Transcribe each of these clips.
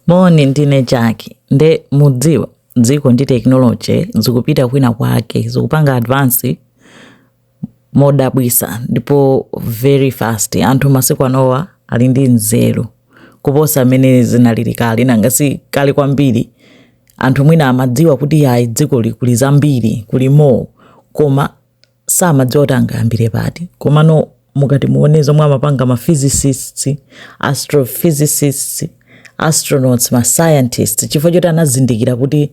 Moni ndine Jackie nde mudziwa dziko ndi technology zikupita kwina kwake zikupanga advance modabwisa ndipo very fast anthu masiku anowa ali ndi nzeru kuposa mmene zinalili kale nanga si kale kwambiri anthu mwina amadziwa kuti ayi dziko likuli zambiri kuli more koma samadziwa kuti angayambire pati komano mukati muone zomwe amapanga ma physicists astrophysicists astronauts ma scientists chifukwa choti anazindikira kuti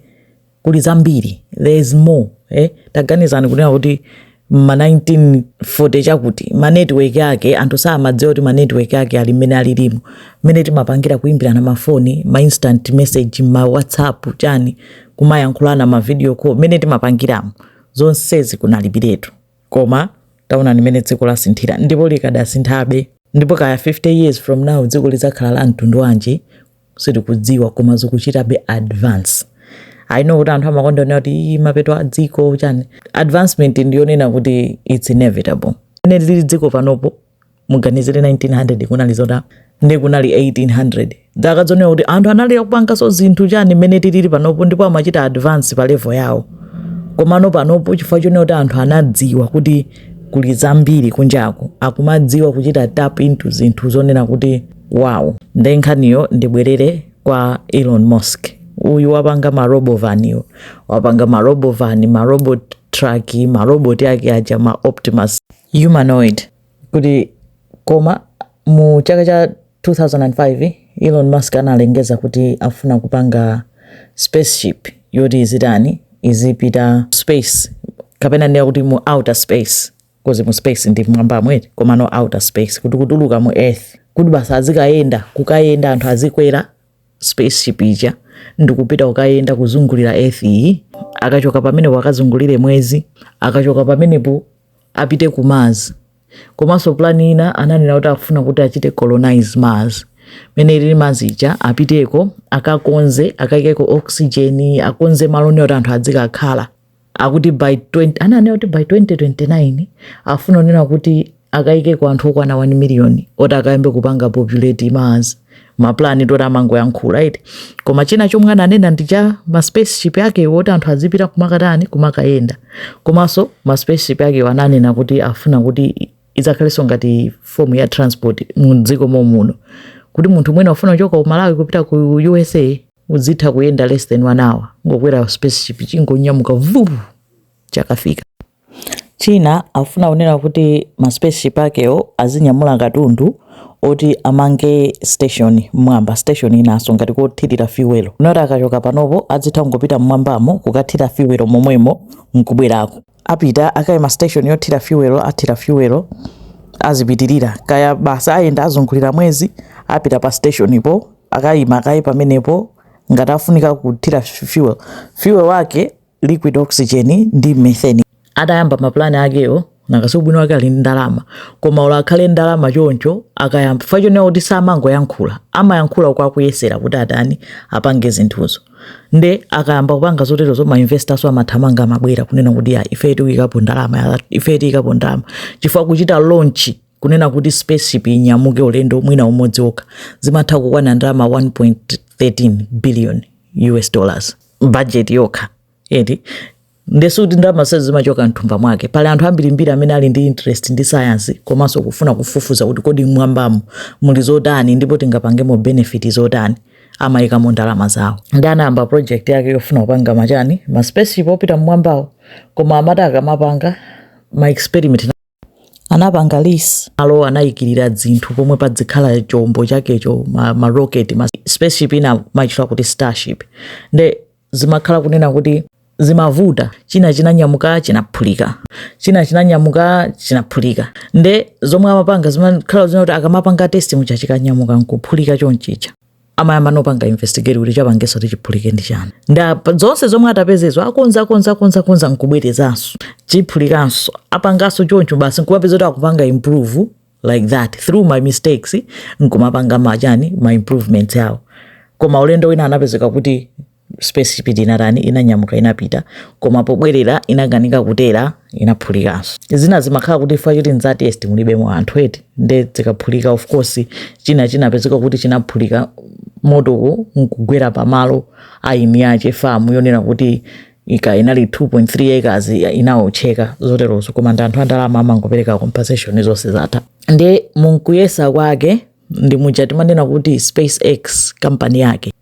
kuli zambiri there is more eh? taganizani kunena kuti ma 1940 chakuti ma network ake anthu samadziwa kuti ma network ake ali ngati mmene alilimo mmene timapangira kuimbirana mafoni ma instant message ma whatsapp chani kumayankhulana ma video call mmene timapangiramo zonsezi kunalibiretu. Koma taonani mmene dziko lasinthira, ndipo likadasinthabe. Ndipo kaya 50 years from now dziko lidzakhala la mtundu wanji sitikudziwa, koma zikuchitabe advance. I know kuti anthu amakonda kunena kuti "Ii, mapeto a dziko chani. Advancement ndiyonena kuti it's inevitable. Mmene lilili dziko panopo muganizire 1900 kunali zotani kunali 1800 zaka zonena kuti anthu anali akupanganso zinthu chani mmene tilili panopo ndipo amachita advance pa level yawo komano panopo chifukwa chonena kuti anthu anadziwa kuti kuli zambiri kunjaku akumadziwa kuchita tap into zinthu zonena kuti wow nde nkhaniyo ndibwerere kwa elon musk uyu wapanga marobovaniyo wapanga marobovani marobot truck maroboti ake aja ma optimus humanoid kuti koma mu chaka cha 2005 Elon Musk analengeza kuti afuna kupanga spaceship yoti izitani izipita space kapena ndiye kuti mu outer space kozi mu space ndi mmwambamu eti komano outer space kuti kutuluka mu earth kuti basi azikayenda kukayenda anthu azikwera spaceship ija ndikupita kukayenda kuzungulira earth iyi akachoka pamenepo akazungulire mwezi akachoka pamenepo apite ku Mars. Komanso plan ina ananena kuti afuna kuti achite colonize Mars. Mmene ilili Mars ija apiteko akakonze akaikeko oxygen akonze malo onena kuti anthu adzikakhala. Akuti by 20 ananena kuti by 2029 afuna kunena kuti akaikeko anthu okwana 1 million oti akayambe kupanga populate Mars. mapulani toti amangoyankhula eti koma china chomwe ananena ndi cha maspaceship ake woti anthu azipita kumakatani kumakayenda komanso maspaceship ake ananena kuti afuna kuti idzakhalenso ngati fomu ya transport mdziko momuno kuti munthu mwina ufuna kuchoka ku Malawi kupita ku usa uzitha kuyenda less than one hour kungokwera spaceship chingonyamuka vuvu chakafika China akufuna kunena kuti ma spaceship akewo azinyamula katundu oti amange station mmwamba, station inaso ngati kothilira fuel, noti akachoka panopo adzitha kungopita mmwambamo kukathira fuel momwemo nkubwerako. Apita akaima station yothira fuel, athira fuel azipitilira kaya basi ayenda azungulira mwezi, apita pa station po akaima kaye pamenepo ngati afunika kuthira fuel, fuel wake liquid oxygen ndi methane adayamba mapulani akewo nanga si ubwino wake ali ndalama koma ola akhale ndalama choncho akayamba fa chonena kuti samangoyankhula amayankhula kwinaku kuyesera kuti atani apange zinthuzo nde akayamba kupanga zoterozo ma investors amathamanga amabwera kunena kuti ya ife tiyikapo ndalama ife tiikapo ndalama chifukwa kuchita launch kunena kuti spaceship inyamuke ulendo mwina umodzi okha zimatha kukwana ndalama 1.13 billion us dollars bajeti yokha eti nde sikuti ndalama zonsezi zimachoka mthumba mwake pali anthu ambirimbiri amene ali ndi interest ndi sayansi komanso kufuna kufufuza kuti kodi mmwambamu muli zotani ndipo tingapangemo benefit zotani amaikamo ndalama zawo nde anayamba project yake yofuna kupanga machani ma spaceship opita mmwambawo koma amati akamapanga ma experiment anapanga lease malo anayikirira dzinthu pomwe padzikhala chombo chakecho ma, ma rocket ma spaceship ina amaitcha kuti starship nde zimakhala kunena kuti zimavuta china chinanyamuka chinaphulika china chinanyamuka chinaphulika nde zomwe amapanga zimakhala zonena kuti akamapanga test muja chikanyamuka nkuphulika chonchija amayamba ndi kupanga investigate kuti chapangitsa kuti chiphulike ndi chani nde zonse zomwe atapezazo akonza akonza akonza akonza nkubwerezanso chiphulikanso apanganso choncho basi nkumapeza kuti akupanga improve like that through ma mistakes nkumapanga machani ma improvements awo koma ulendo wina anapezeka kuti spaceship inatani inanyamuka inapita koma pobwerera inakanika kutera inaphulikanso zina zimakhala kuti chifukwa choti nza test mulibemo anthu eti nde zikaphulika of course china chinapezeka kuti chinaphulika motowo nkugwera pamalo a eni ake famu yonena kuti kaya inali 2.3 acres inaotcheka zoterozo koma ndi anthu andalama amangopereka compensation zonse zatha nde munkuyesa kwake ndi muja timanena kuti spacex kampani yake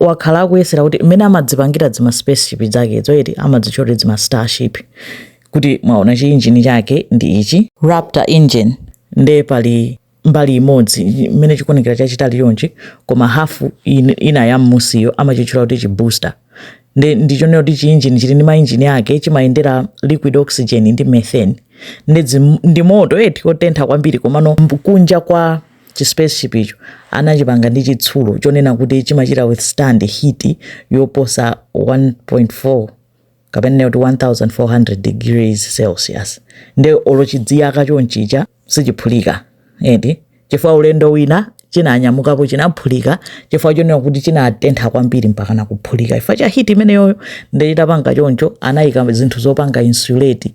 wakhala akuyesera kuti mmene amadzipangira dzima spaceship dzakedzo eti amadzitcha kuti dzima starship kuti mwachiona chiinjini chake ndi ichi raptor engine nde pali mbali imodzi imene chikuonekera chachitali chonchi koma hafu in- ina ya mmusiyo amachitchula kuti chibooster nde ndi chonena kuti chiinjini chili ndi mainjini ake chimayendera liquid oxygen ndi methane nde dzim- ndi moto eti otentha kwambiri komano mb- kunja kwa Chi spaceship icho anachipanga ndi chitsulo chonena kuti chimachita withstand heat yoposa 1.4 kapena tinene kuti 1400 degrees celsius. Nde olo chidziyaka chonchicha sichiphulika eti chifukwa ulendo wina chinanyamukapo chinaphulika chifukwa chonena kuti chinatentha kwambiri mpakana kuphulika chifukwa cha heat imeneyoyo. Nde chitapanga choncho anaika zinthu zopanga insulate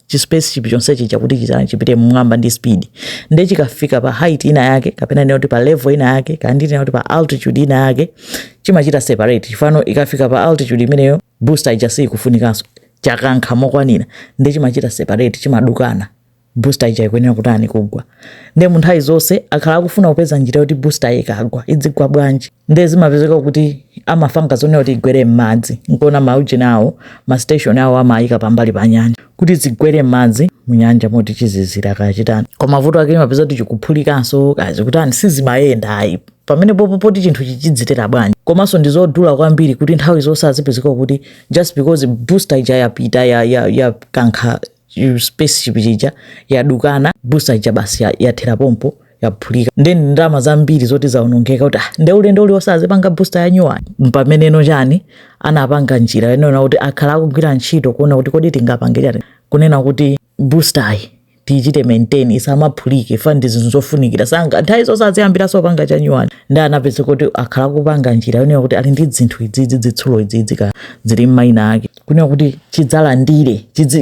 chi spaceship chonse chicha kuti chitani chipite mmwamba ndi speed nde chikafika pa height ina yake kapena nena kuti pa level ina yake kaya ndinene kuti pa altitude ina yake chimachita separate chifukwano ikafika pa altitude imeneyo booster ija siikufunikanso chakankha mokwanira nde chimachita separate chimadukana booster ija ikuyenera kutani kugwa nde mu nthawi zonse akhala akufuna kupeza njira yoti booster ikagwa idzigwa bwanji nde zimapezeka kuti amapanga zonena kuti igwere m'madzi nkona maujeni awo masiteshoni awo amayika pambali pa nyanja kuti izigwera m'madzi munyanja moti chizizira kaya chitani koma vuto lake imapezeka kuti chikuphulikanso kaya zikutani sizimayenda ayi pamene popo poti chinthu chichidzitera bwanji komanso ndi zodula kwambiri kuti nthawi zonse azipezeka kuti just because booster ija yapita ya, ya, ya kankha spaceship chicha yadukana busta ija basi yathera pompo yaphulika nde ndalama zambiri zoti zaonongeka kuti ah, nde ulendo uliwonse azipanga busta yanyuwani mpameneno chani anapanga njira yonena kuti akhala akugwira ntchito kuona kuti kodi tingapange chani kunena kuti bustayi tichite maintain isamaphulike chifukwa ndi zinthu zofunikira sangati nthawi zonse aziyambiranso kupanga chanyuwani nde anapeza kuti akhala akupanga njira yonena kuti ali ndi zinthu idzidzi zitsulo idzidzi ka zili mmaina ake kunena kuti chidzilandira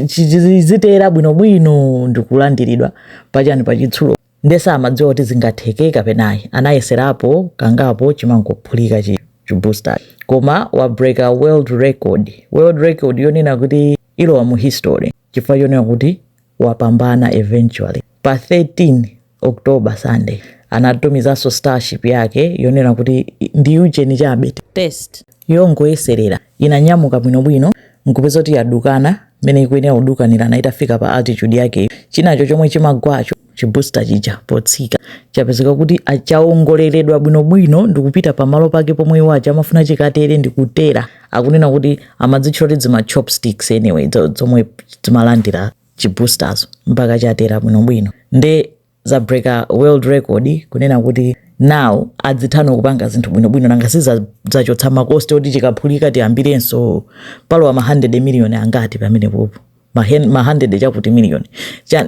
chizitera bwinobwino ndikulandiridwa pachani pachitsulo nde samadziwa kuti zingatheke kapena ayi anayeserapo kangapo chimangophulika chibooster koma wa break a world record world record yonena kuti ilowa mu history chifukwa chonena kuti wapambana eventually. Pa 13 October, Sunday, anatumizanso starship yake yonena kuti ndi ujeni chabe test yongoyeserera inanyamuka bwinobwino nkupeza kuti yadukana mmene ikuyenera kudukanirana itafika pa altitude yake chinacho chomwe chimagwacho chibusta chija potsika chapezeka kuti chawongoleredwa bwinobwino ndikupita pamalo pake pomwe iwo aja amafuna chikatere ndikutera akunena kuti amadzitchula kuti zima chopsticks anyway zomwe zimalandira chibooster mpaka chatera bwinobwino nde zabreaka world record kunena kuti now adzitha no kupanga zinthu bwinobwino nanga sizachotsa makosti oti chikaphulika tiyambirenso palowa ma 100 miliyoni angati pamene popo ma 100 chakuti miliyoni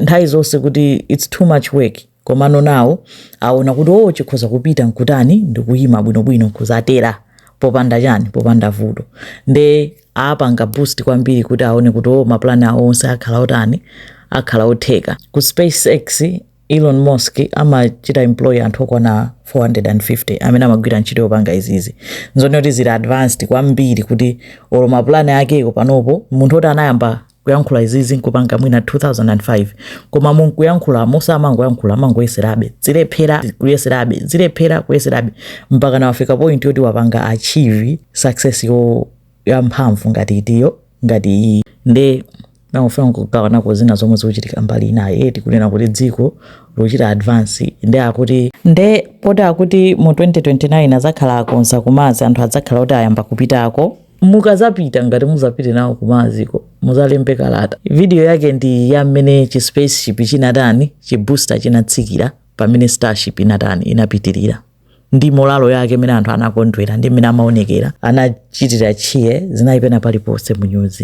nthawi zonse kuti its too much work Komano nawo awona kuti oo chikhoza kupita nkutani ndikuyima bwino bwino nkudzatera popanda chani popanda vuto nde apanga boost kwambiri kuti awone kuti oo ma plan awo onse akhala otani akhala otheka. Ku spacex Elon Musk amachita employ anthu okwana 450 amene amagwira ntchito yopanga izizi nzoti zili advanced kwambiri kuti olo ma plan akewo panopa munthu oti anayamba kuyankhula izizi kupanga mwina 2005 koma munkuyankhula mosamangoyankhula amangoyeserabe zilephera kuyeserabe zilephera kuyeserabe mpaka nawafika point yoti wapanga achieve success yo ya mphamvu ngati itiyo ngati iyi nde ndimafuna kugawanako zina zomwe zikuchitika mbali inayo eti kunena kuti dziko lochita advance nde akuti nde poti akuti mu 2029 adzakhala akonza ku Mars anthu adzakhala kuti ayamba kupitako mukazapita ngati muzapite nawo ku Mars-ko muzalembe kalata video yake ndi ya mmene chi spaceship chinatani chi booster chinatsikira pamene starship inatani inapitirira ndi moralo yake mmene anthu anakondwera ndi mmene amaonekera anachitira cheer zinali pena paliponse mu news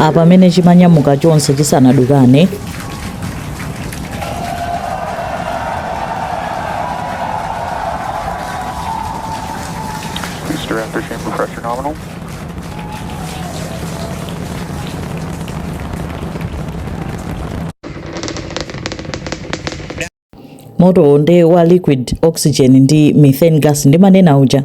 apa mmene chimanyamuka chonse chisanadukane moto nde wa liquid oxygen ndi methane gas ndimanena uja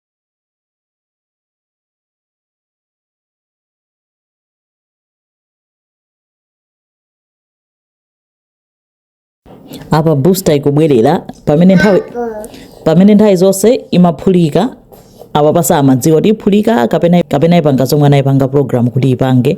apa booster ikubwerera pamene nthawi pamene nthawi zonse imaphulika apapa samadziwa kuti iphulika kapena kapena ipanga zomwe anayipanga program kuti ipange